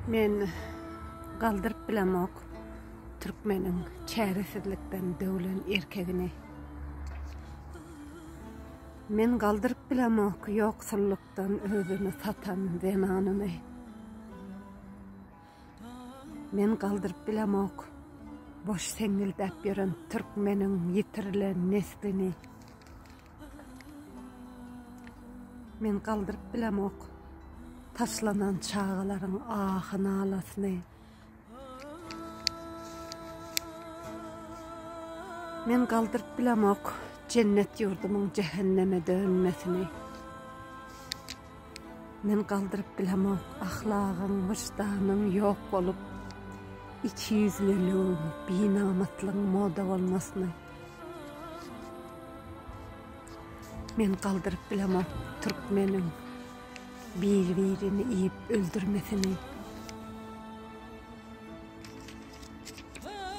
Men galdyryp bilemok türkmeniň çäresizlikden döwlen erkegini. Men galdyryp bilemok ýoksullukdan özüni satan zenanyny. Men galdyryp bilemok boş seňňildäp ýören türkmeniň ýitirilen neslini. Men galdyryp bilemok taşlanan çagalaryň ahy-nalasyny. Men galdyryp bilemok jennet ýurdumyň jähenneme dönmesini. Men galdyryp bilemok ahlagyň, wyždanyň ýok bolup, ikiýüzlüligiň, binamyslygyň moda bolmasyny. Men galdyryp bilemok türkmeniň biri birini iýip öldürmesini.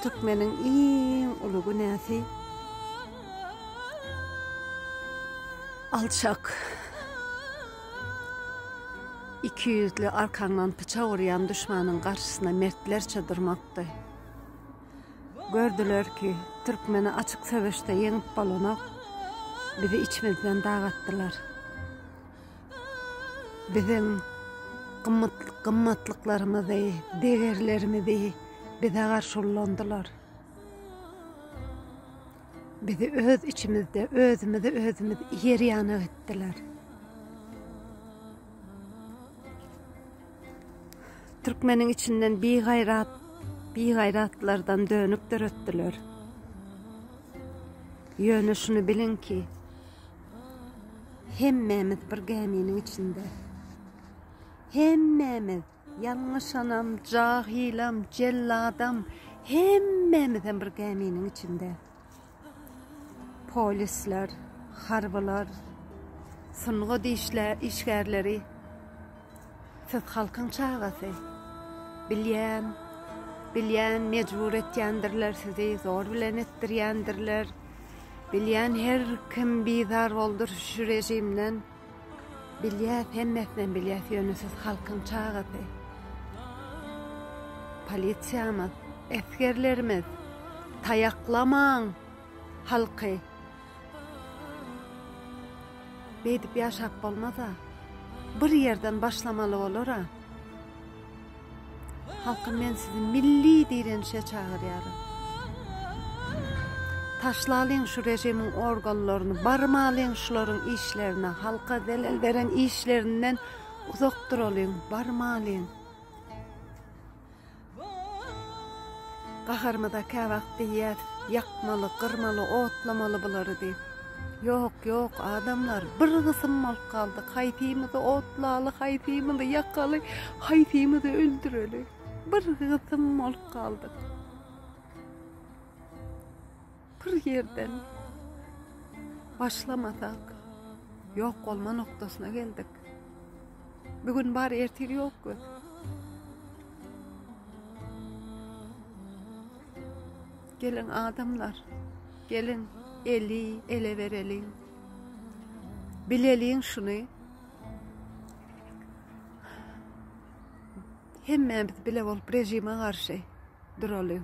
Türkmeniň iň uly günäsi alçak. Iki ýüzli arkaňdan pyçak urýan düşmanyň garşysyna mertlerçe durmakdy. Gördüler ki Türkmeni açyk söveşde ýeňip bolanok bizi içimizden dag atdylar. Biziň gymmatlyklarymyzy, degerlerimizi bize garşy ullandylar. Bizi öz içimizde özümizi özümiz ýer ýanak etdiler. Türkmeniň içinden bigaýrat, bigaýratlardan dönük döretdiler. Ýöne şuny biliň ki, hemmämiz bir gäminiň içinde. Hemmämiz, ýalňyşanam, jahylam, jelladam, hemmämiz hem bir gäminiň içinde. Polisler, harbylar, sungat işgärleri, siz halkyň çagasy. Bilýän, bilýän mejbur etýändirler sizi, zor bilen etdirýändirler. Bilýän her kim bizar boldur şu rejimden. Bilýäs, hemmesinem bilýäs, ýöne siz halkyň çagasy. Polisiýamyz, esgerlerimiz, taýaklamaň halky. Beýdip ýaşap bolmaz-a. Bir ýerden başlamaly bolar-a. Halkym men sizi milli direnişe çagyrýaryn. Taşlalyň şu rejimiň organlaryny barmalyň şularyň işlerine halka zelel beren işlerinden uzak duralyň barmalyň. Gaharymyza käwagt diýýäs ýakmaly gyrmaly otlamaly bulary diýip. Ýok, ýok, adamlar, bir gysym bolup galdyk, haýsymyzy otlaly, haýsymyzy ýakaly, haýsymyzy öldüreli? Bir gysym bolup galdyk. Bir ýerden başlamasak, ýok bolma nokdasyna geldik. Bu gün bar, ertir ýok göz. Geliň adamlar, geliň eli ele bereliň. Bileliň şuny. Hemmämiz bile bolup rejime garşy duralyň.